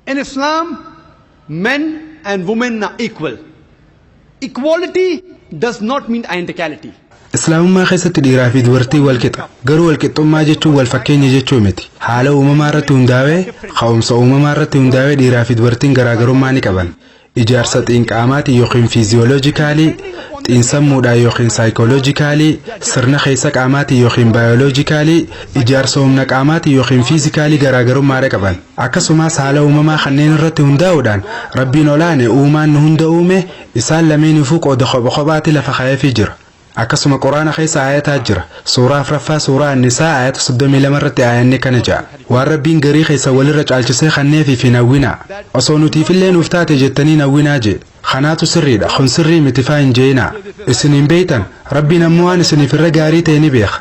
In Islam, men and women are equal. Equality does not mean identicality. Islaamummaa keessatti dhiiraa fi dubartiin wal qixa. Garuu wal qixxummaa jechuun wal fakkeenya jechuu miti. Haala uumamaa irratti hundaa'ee, ka'umsa uumamaa irratti hundaa'ee dhiiraa fi dubartiin garaagarummaa ni qaban. ijaarsa xiinqaamaatiin yookiin fiiziyooloojikaalii, xiinsammuudhaan yookiin saayikooloojikaalii, sirna keessa qaamaatiin yookiin baayooloojikaalii, ijaarsa humna qaamaatiin yookiin fiizikaalii garaagarummaadha qaban. Akkasumas haala uumamaa kanneen irratti hundaa'uudhaan Rabbiin ol'aane uumaan nu hunda uume isaan lameeniifuu qooda kopha kophaatti lafa kaa'eefii jira. Akkasuma Qur'aana keessa aayataa jira. Suuraa afraffaa suuraa An-Nisaa aayata 32 irratti aayanni akkana ja'a. Waan Rabbiin garii keessan walirra caalchisee kanneefiif hin hawwinaa. Osoo nutiifillee nuuf taate jettanii hin hawwinaa je'e. Kanaatu sirriidha, kun sirrii miti faa hin je'inaa. Isin hin beeytan, Rabbiin ammoo waan isiniif irra gaarii ta'e ni beeka.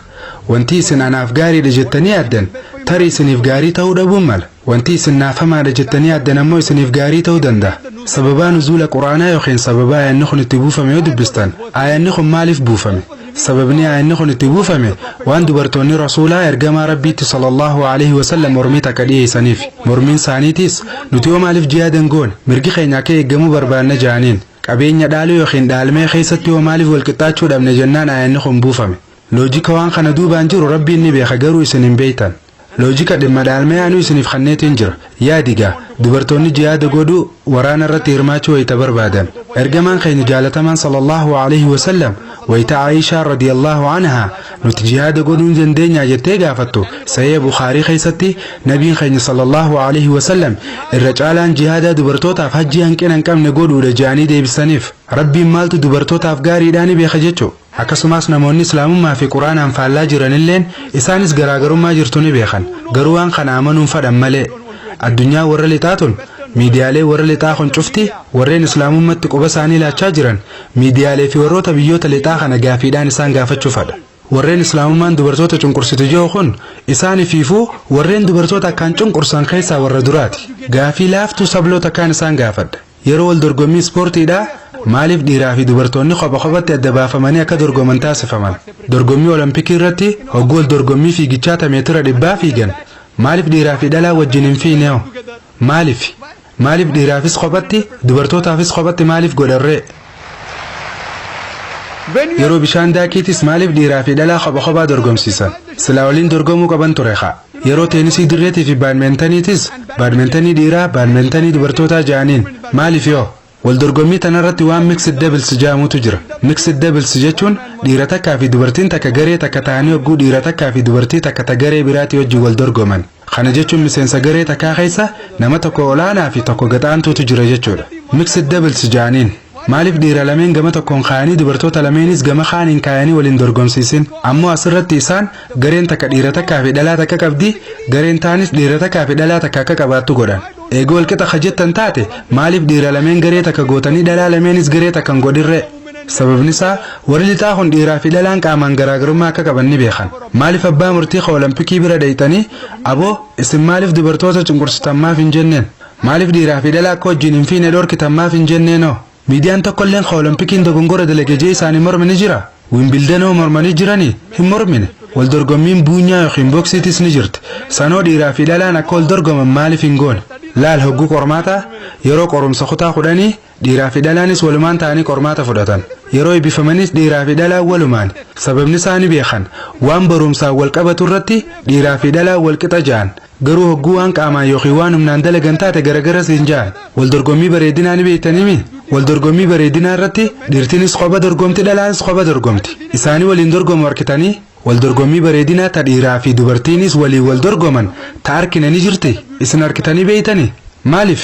Wantii isin anaaf gaariidha jettanii yaaddan tarii isiniif gaarii ta'uu dhabuun mala. Wanti isin naaf hamaadha jettanii yaaddan ammoo isiniif gaarii ta'uu danda'a. Sababaa nuzuula Qur'aanaa yookiin sababa aayanni kun itti buufame yoo dubbistan, aayanni kun maaliif buufame? Sababni aayanni kun itti buufame waan dubartoonni Rasuulaa, Ergamaa Rabbiitti sallallaahu alayhi wa sallam mormii takka dhiyeeysaniifi. Mormiin isaaniitiis, Nuti hoo maaliif jihaada hin goone? Mirgi keenya akka eeggamuu barbaanna ja'aniin. Qabeenya dhaaluu yookiin dhaalmee keeysatti hoo maaliif wal qixxaachuu dhabne jennaan aayanni kun buufame. Loojika waan kana duubaan jiru Rabbiin ni beeka garuu isin hin beeytan. Loojika dhimma dhaalmee anuu isiniif kanneetiin jira. Yaadi gaa, dubartoonni jihaada godhuu, waraana irratti hirmaachuu wayita barbaadan, Ergamaan keenya jaalatamaan sallallaahu aleyhi wa sallam wayita Aa'ishaan radiyallaahu anhaa nuti jihaada godhuu ni dandeenyaa jettee gaafattu, Sahiiha Bukhaarii keessatti Nabiin keenya sallallaahu aleyhi wa sallam irra caalaan jihaadaa dubartootaaf hajjii hanqina hin qabne godhuudha jedhanii deebisaniif. Rabbiin maaltu dubartootaaf gaariidhaa ni beeka jechu. Akkasumaas namoonni Islaamummaa fi Qur'aanaan faallaa jiran illeen isaanis garaagarummaa jirtu ni beekan, garuu waan kana amanuun fadhan malee. Addunyaan warra lixaa tun, miidiyaaleen warra lixaa kun cufti warreen Islaamummatti quba isaanii laachaa jiran miidiyaalee fi warroota biyyoota lixaa kana gaafiidhaan isaan gaafachuu fadha. Warreen Islaamummaan dubartoota cunqursitu jehu kun isaanifiifuu warreen dubartoota akkaan cunqursan keessaa warra duraati. Gaafii laaftuu sabloo takkaan isaan gaafadha. Yeroo wal dorgommii ispoortiidhaa maaliif dhiiraa fi dubartoonni kopha kophatti adda baafamanii akka dorgoman taasifaman? Dorgommii Olompikii irratti hogguu wal dorgommii fiigichaa ta meetira dhibbaa fiigan maaliif dhiiraa fi dhalaan wajjin hin fiigneo? Maalifi? Maaliif dhiiraafis kophatti, dubartootaafis kophatti maaliif godhan ree? Yeroo bishaan daakiitis maaliif dhiiraa fi dhalaa kopha kophaa dorgomsiisan? Silaa waliin dorgomuu qaban ture kaa. Yeroo teenisii dirreetii fi baadmeentaniitis baadmeentanii dhiiraa baadmeentanii dubartootaa ja'aniin. Maaliif yoo? Wal dorgommii tanarratti waan mixed doubles ja'amutu jira. Mixed doubles jechuun dhiira takkaa fi dubartiin takka garee takka tahanii hogguu dhiira takkaa fi dubartii takka ta garee biraatii wajjin wal dorgoman. Kana jechuun miseensa garee takkaa keessa nama tokko olaanaa fi tokko gad aantuutu jira jechuudha. Mixed doubles ja'aniin. Maaliif dhiira lameen gama tokkoon kaayanii dubartoota lameenis gama kaaniin kaayanii wal hin dorgomsiisin? Ammoo asirratti isaan gareen takka dhiira takkaa fi dhalaa takka qabdi, gareen taanis dhiira takkaa fi dhalaa takka akka qabaattu godhan. Eega wal qixa ka jettan taate maaliif dhiira lameen garee takka gootanii dhalaa lameenis garee takka hin godhinree? Sababnisaa, warri lixaa kun dhiiraafi dhalaan qaamaan garaagarummaa akka qaban ni beekan. Maaliif abbaa murtii ka Olompikii bira dhayxanii, Aboo, isin maaliif dubartoota cunqursitan maaf hin jenneen? Maaliif dhiiraafi dhalaa akka wajjiin hin fiine dhorkitan maaf hin jenneenoo? Miidiyaan tokkolleen ka Olompikiin dogongora dalage jee isaanii morme ni jira? Wimbildenoo mormanii jiranii? Hin mormine. Wal dorgommiin buunyaa yookiin boksiitis ni jirti. Sanoo dhiiraafi dhalaan akka wal dorgoman maaliif hin goone? Laal hogguu qormaataa, yeroo qorumsa kutaa kudhanii, Dhiiraa fi dhalaanis walumaan ta'anii qormaata fudhatan. Yeroo eebbifamanis dhiiraa fi dhalaan walumaan, sababni isaa ni beekan. Waan baruumsaan wal qabatu irratti dhiiraa fi dhalaan wal qixa ja'an. Garuu hogguu waan qaamaan ykn waan humnaan dalagan taate garagara siin ja'an. Wal dorgommii bareedinaa ni beektanii mii? Wal dorgommii bareedinaa irratti dhiirtinis kopha dorgomti dhalaanis kopha dorgomti. Isaanii waliin dorgomu arkitanii? Wal dorgommii bareedinaa ta dhiiraa fi dubartiinis waliin wal dorgoman ta arkine ni jirti? Isin arkitanii beektanii? Maaliif?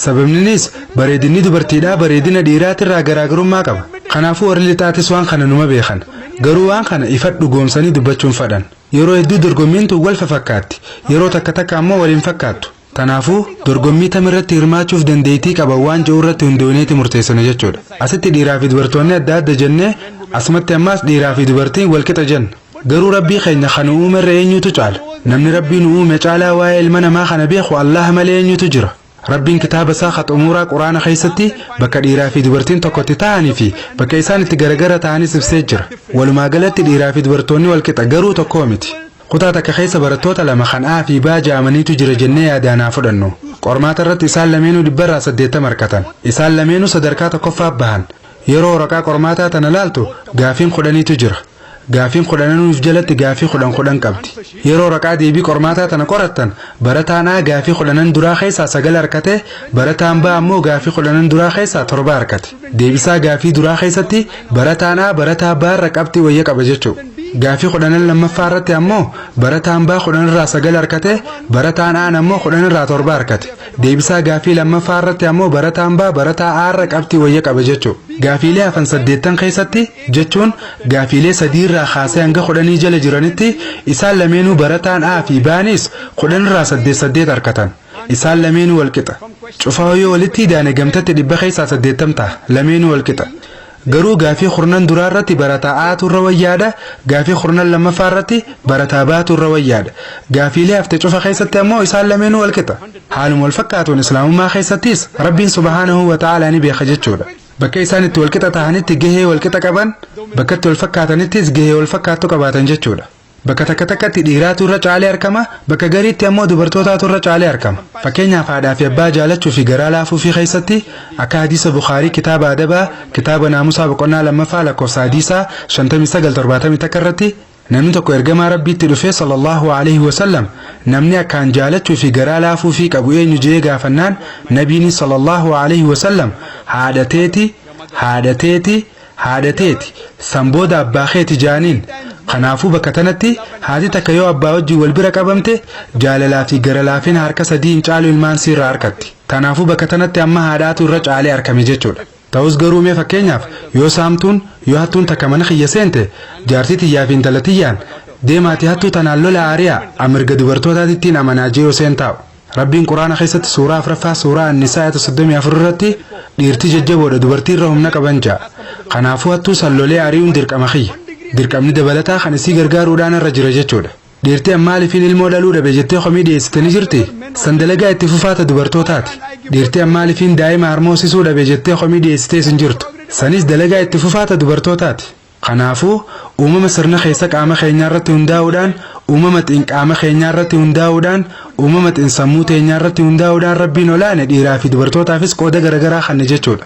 Sababninis bareedinni dubartiidhaa bareedina dhiiraatirraa garaagarummaa qaba. Kanaafuu warri lixaatis waan kana numa beekan. Garuu waan kana ifat dhugoomsanii dubbachuu hin fadhan. Yeroo hedduu dorgommiin tun wal fafakkaatti. Yeroo takka takka ammoo wal hin fakkaattu. Tanaafuu dorgommii tam irratti hirmaachuuf dandeeytii qaban waan je'u irratti hundooyneeti murteessina jechuudha. Asitti dhiiraa fi dubartoonni adda adda jennee asumatti ammaas dhiiraa fi dubartiin wal qixa jenna. Garuu Rabbii keenya kan nu uume irra eenyutu caala? Namni Rabbii nu uume caalaa waa'ee ilma namaa kana beeku Allaah malee eenyutu jira? Rabbiin kitaaba isaa ka xumuuraa Qur'aana keessatti bakka dhiiraa fi dubartiin tokko itti ta'anii fi bakka isaan itti garagara ta'anis ibsee jira. Walumaa galatti dhiiraa fi dubartoonni wal qixa garuu tokkoo miti. Kutaa takka keessa barattoota lama kan A fi B ja'amaniitu jira jennee yaadaan haa fudhannu. Qormaata irratti isaan lameenuu dhibba irraa saddeettama argatan. Isaan lameenuu sadarkaa tokkoffaa bahan. Yeroo waraqaa qormaataa tana laaltu gaaffiin kudhaniitu jira. Gaaffiin kudhananuuf jalatti gaaffii kudhan kudhan qabdi. Yeroo waraqaa deebii qormaataa tana qorattan barataan A gaaffii kudhanan duraa keessaa sagal arkate, barataan B ammoo gaaffii kudhanan duraa keessaa torba arkate. Deebisaa gaaffii duraa keessatti barataan A barataa B irra qabxii wayya qaba jechuu. Gaaffii kudhanan lammaffaa irratti ammoo barataan B kudhan irraa sagal arkate, barataan A ammoo kudhan irraa torba arkate. Deebisaa gaaffii lammaffaa irratti ammoo barataan B barataa A irra qabxii wayya qaba jechuu. Gaaffiilee hafan saddeettan keessatti jechuun gaafiilee sadiirraa kaasee hanga kudhanii jala jiranitti isaan lameenuu barataan A fi B'nis kudhanirraa saddeet saddeet arkatan. Isaan lameenuu walqixa. Cufaahuu yoo walitti idaane gamtatti dhibba keessaa saddeettam taha. Lameenuu walqixa. Garuu gaafii kurnan duraa irratti barataa A'tu irra wayyaadha, gaafii kurnan lammaffaa irratti barataa B'tu irra wayyaadha. Gaafiilee hafte cufa keessatti ammoo isaan lameenuu walqixa. Haaluma walfakkaatuun Islaamummaa keessattis Rabbiin subhaanahu wa ta'aalaa ni beeka jechuudha. Bakka isaan itti walqixa tahanitti gahee walqixa qaban, bakkatti walfakkaatanittis gahee walfakkaattu qabaatan jechuudha. Bakka takka takkatti dhiiraatu irra caalee argama, bakka gariitti ammoo dubartootaatu irra caalee argama. Fakkeenyaaf haadhaa fi abbaa jaalachuu fi garaa laafuu fi keessatti akka hadiisa Bukhaarii kitaaba adabaa kitaaba naamusaa boqonnaa lammaffaa lakkoofsa hadiisaa 59 71 irratti Namni tokko ergamaa Rabbiitti dhufee sallallahu aleyhi wasallam namni akkaan jaalachuu fi garaa laafuufii qabu eenyu je'ee gaafannaan nabiini sallallahu aleyhi wasallam haadha teeti haadha teeti haadha teeti san booda abbaa keeti ja'aniin kanaafuu bakka tanatti haati takka yoo abbaa wajjin wal bira qabamte jaalalaa fi gara laafina harka sadiin caalu ilmaan siirraa arkatti kanaafuu bakka tanatti amma haadhaatu irra caalee arkame jechuudha Ta'us garuu mee fakkeenyaaf yoo saamtuun, yoo hattuun takka mana kiyya seente, jaartii tiyyaa fi intala tiyyaan, Deemaatii hattuu tanaan lolaa ari'aa, an mirga dubartootaatittiin amanaa je'uu seentaa'u. Rabbiin Qur'aana keessatti suuraa 4ffaa suuraa An-Nisaa aayata 34 irratti, Dhiirti jajjaboodha dubartii irra humna qaban ja'a. Kanaafuu hattuu san lolee ari'uun dirqama kiyya. Dirqamni dabalataa kan isii gargaaruudhaa narra jira jechuudha. Dhiirti an maaliifin ilmoo dhaluu dhabe jettee komii dhiyeessite ni jirti? San dalagaa itti fufaa ta dubartootaati. Dhiirti an maaliifin daa'ima harmoosisuu dhabe jettee komii dhiyeessitees hin jirtu. Sanis dalagaa itti fufaa ta dubartootaati. Kanaafuu, uumama sirna keessa qaama keenyaarratti hundaa'uudhaan, uumama xin qaama keenyaarratti hundaa'uudhaan, uumama xin sammuu teenyaarratti hundaa'uudhaan Rabbiin ol aane dhiiraa fi dubartootaafis qooda garagaraa kanne jechuudha.